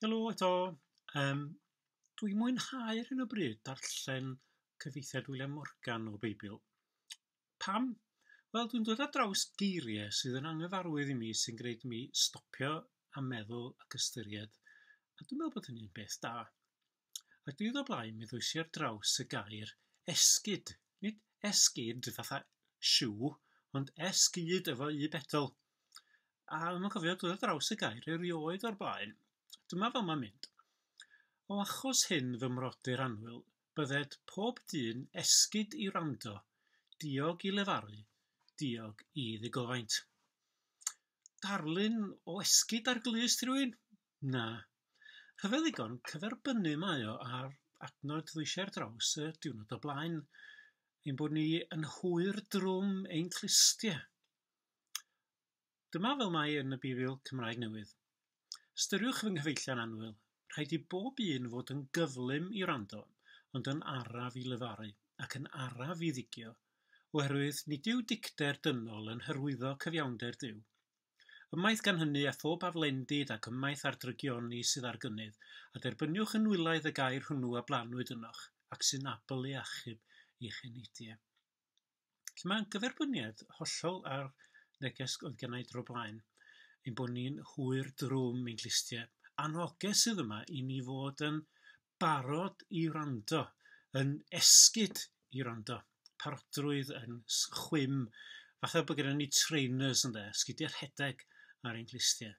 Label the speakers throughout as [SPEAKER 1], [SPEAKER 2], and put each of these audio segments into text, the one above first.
[SPEAKER 1] Helo eto. Yym, dwi'n mwynhau ar hyn o bryd darllen cyfeithiad William Morgan o Beibl. Pam? Wel, dwi'n dod ar draws geiriau sydd yn anghyfarwydd i mi sy'n gwneud mi stopio a meddwl ac ystyried, a dwi'n meddwl bod hynny'n beth da. Ac diwrnod o blaen mi ddwysi ar draws y gair esgid, nid esgid fatha siw, ond esgid efo u bedl. A ddim yn cofio dod ar draws y gair erioed o'r blaen. Dyma fel mae'n mynd. O achos hyn fy mrodyr anwyl, bydded pob dyn esgid i wrando, diog i lefaru, diog i ddigofaint. Darlun o esgid ar glust i rywun? Na. Rhyfedd ddigon, cyferbynnu mae o â'r adnod ddois ar draws y diwrnod o blaen, ein bod ni yn hwyr drwm ein clustiau. Dyma fel mae yn y Bibl Cymraeg Newydd. Ystyriwch fy nghyfeillion annwyl, rhaid i bob un fod yn gyflym i wrando, ond yn araf i lefaru, ac yn araf i ddigio, oherwydd nid yw dicter dynol yn hyrwyddo cyfiawnder Duw, Ymaith gan hynny a phob aflendid ac ymaith â'r drygioni sydd ar gynnydd, a derbyniwch yn nwylaidd y gair hwnnw a blannwyd ynoch, ac sy'n abl i achub eich enidie. Felly mae'n gyferbyniad hollol â'r neges oedd gennau i dro blaen, ein bod ni'n hwyr drwm ein clustiau. Annoges sydd yma i ni fod yn barod i wrando, yn esgid i wrando, parodrwydd yn chwim, fatha bod gyda ni trainers ynde, sgidiau rhedeg ar ein clustiau.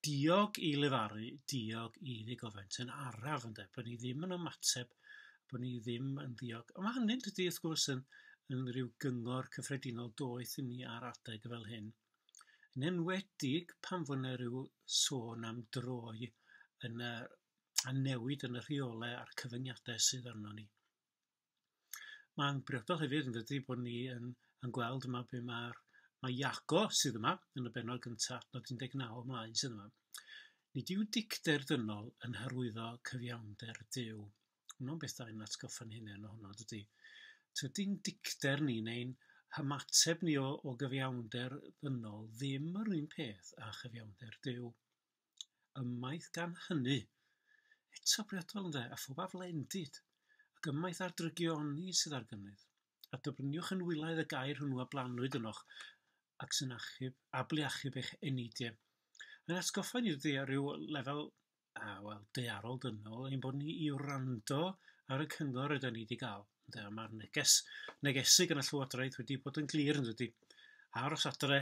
[SPEAKER 1] Diog i lefaru, diog i ddigofent yn araf ynde, bod ni ddim yn ymateb, bod ni ddim yn ddiog. Ond mae hynny'n dydy wrth gwrs yn, yn rhyw gyngor cyffredinol doeth i ni ar adeg fel hyn. Yn enwedig pan fod yna rhyw sôn am droi yn y a newid yn y rheolau a'r cyfyngiadau sydd arnon ni. Mae'n briodol hefyd yn dydy bod ni yn, yn gweld yma be mae'r mae Iago sydd yma yn y benod gyntaf, nod 19 ymlaen sydd yma. Nid yw dicter dynol yn hyrwyddo cyfiawnder Dyw. Hwna'n beth da i'n atgoffa'n hynny ohono, dydy. Tydy'n dicter ni neu'n hymateb ni o, o gyfiawnder ddynol ddim yr un peth â chyfiawnder Dyw. ymaith gan hynny, eto priodol ynde, a phob aflendid, ac ymaith ar drygioni sydd ar gynnydd, a dybryniwch yn wylaidd y gair hwnnw a blannwyd ynoch, ac sy'n achub, ablu achub eich eneidiau. Mae'n atgoffa ni dydy ar ryw lefel, a wel, dearol dynol, ein bod ni i wrando ar y cyngor ydy ni wedi cael. Ynde, a mae'r neges, negesig yn y Llywodraeth wedi bod yn glir yn dydy. Aros adre,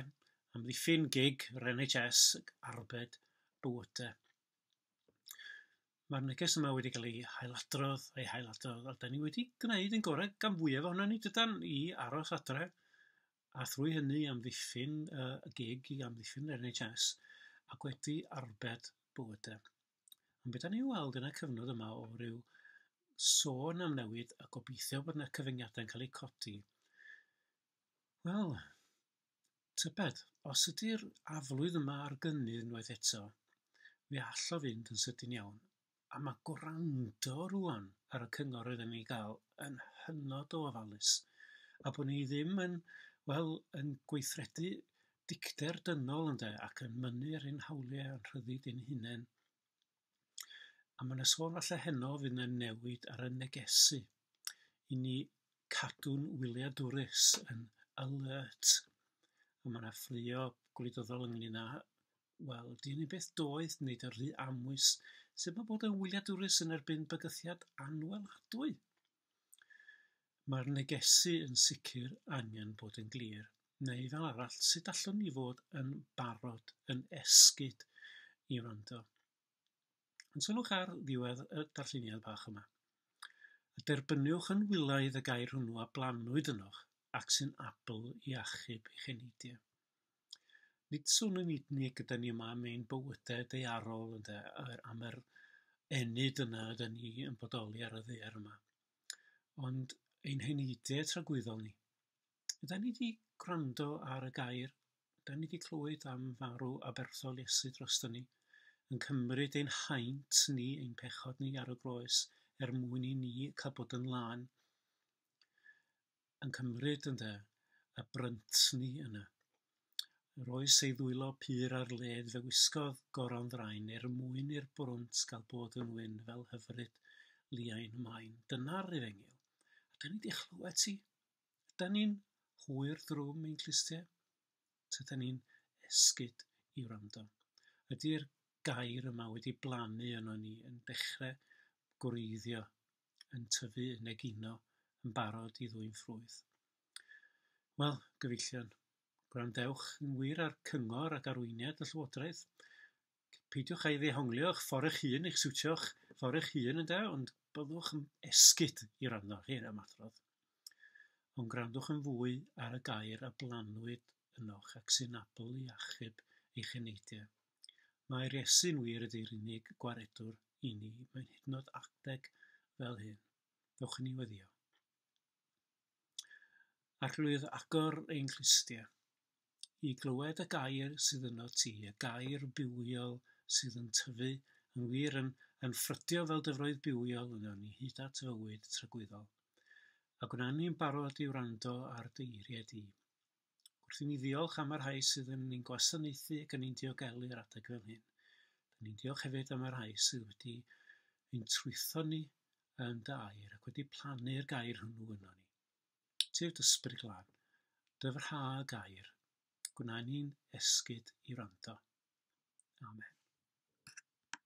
[SPEAKER 1] Amddiffyn gig yr NHS arbed bwyta. Mae'r neges yma wedi cael ei hailadrodd, ei hailadrodd, a da ni wedi gwneud yn gorau gan fwyaf ohono ni dydan i aros adre, a thrwy hynny amddiffyn uh, y gig i amddiffyn yr NHS, ac wedi arbed bywydau. Ond beth ni'n weld yn y cyfnod yma o ryw sôn am newid a gobeithio bod yna cyfyngiadau'n cael eu codi. Wel, Tybed, os ydy'r aflwydd yma ar gynnydd unwaith eto, fe all o fynd yn sydyn iawn. A mae gwrando rŵan ar y cyngor rydyn ni'n ei gael yn hynod o ofalus, a bod ni ddim yn, wel, yn gweithredu dicter dynol, ynde, ac yn mynnu ar ein hawliau a'n rhyddid ein hunain. A ma' 'na sôn falla heno fydd 'na newid ar y negesu i ni cadw'n wyliadwrus yn alert a ma' 'na ffraeo gwleidyddol ynglŷn â wel dyn ni byth doeth neud yn rhy amwys sut ma' bod yn wyliadwrus yn erbyn bygythiad anwelhadwy? Mae'r negesu yn sicr angen bod yn glir, neu fel arall, sut allwn ni fod yn barod, yn esgid i wrando? Ond sylwch ar ddiwedd y darlleniad bach yma. A derbyniwch yn wylaidd y gair hwnnw a blanwyd ynoch, ac sy'n abl i achub eich eneidiau. nid swn i'n nid ni gyda ni yma mewn bywydau daearol ynde yr am yr ennyd yna ydan ni yn bodoli ar y ddaear yma ond ein heneidau tragwyddol ni ydan ni wedi gwrando ar y gair ydan ni wedi clywed am farw aberthol Iesu drosto ni yn cymryd ein haint ni ein pechod ni ar y groes er mwyn i ni cael bod yn lân yn cymryd, ynde, y brynt 'ny yna. Yr oes ei ddwylo pur ar led fe wisgodd goron ddraen er mwyn i'r brwnt gael bod yn wyn fel hyfryd liain maen. Dyna'r efengyl. A da ni di chlywed ti. Da ni'n hwyr drwm ein clustie. Tyda ni'n esgyd i wrando. Ydy'r gair yma wedi blannu yno ni yn dechrau gwreiddio yn tyfu, yn egino, yn barod i ddwyn ffrwyth. Wel, gyfeillion, gwrandewch yn wir ar cyngor ac arweiniad y Llywodraeth. Peidiwch â'i ddehonglio eich ffordd eich hun, eich siwtio'ch ffordd eich hun ynde, ond byddwch yn esgyd i rando ar hyn am adrodd. Ond gwrandwch yn fwy ar y gair a blanwyd ynoch ac sy'n abl i achub eich eneidiau. Mae'r Iesu'n wir ydi'r unig gwaredwr i ni, mae'n hyd yn oed adeg fel hyn. Ddewch i ni weddio. Arglwydd, agor ein clustiau i glywed y gair sydd yno ti, y gair bywiol sydd yn tyfu yn wir yn, yn ffrydio fel dyfroedd bywiol yno ni hyd at fywyd tragwyddol. A gwna ni'n barod i wrando ar dy eiriau di. Wrth i ni ddiolch am y rhai sydd yn ein gwasanaethu ac yn ein diogelu ar adeg fel hyn, dyn ni'n diolch hefyd am y rhai sydd wedi ein trwytho ni yn dy air ac wedi plannu'r gair hwnnw yno ni. Tyf dy sbryd glân, dyfrha y gair, gwna ni'n esgyd i wrando. Amen.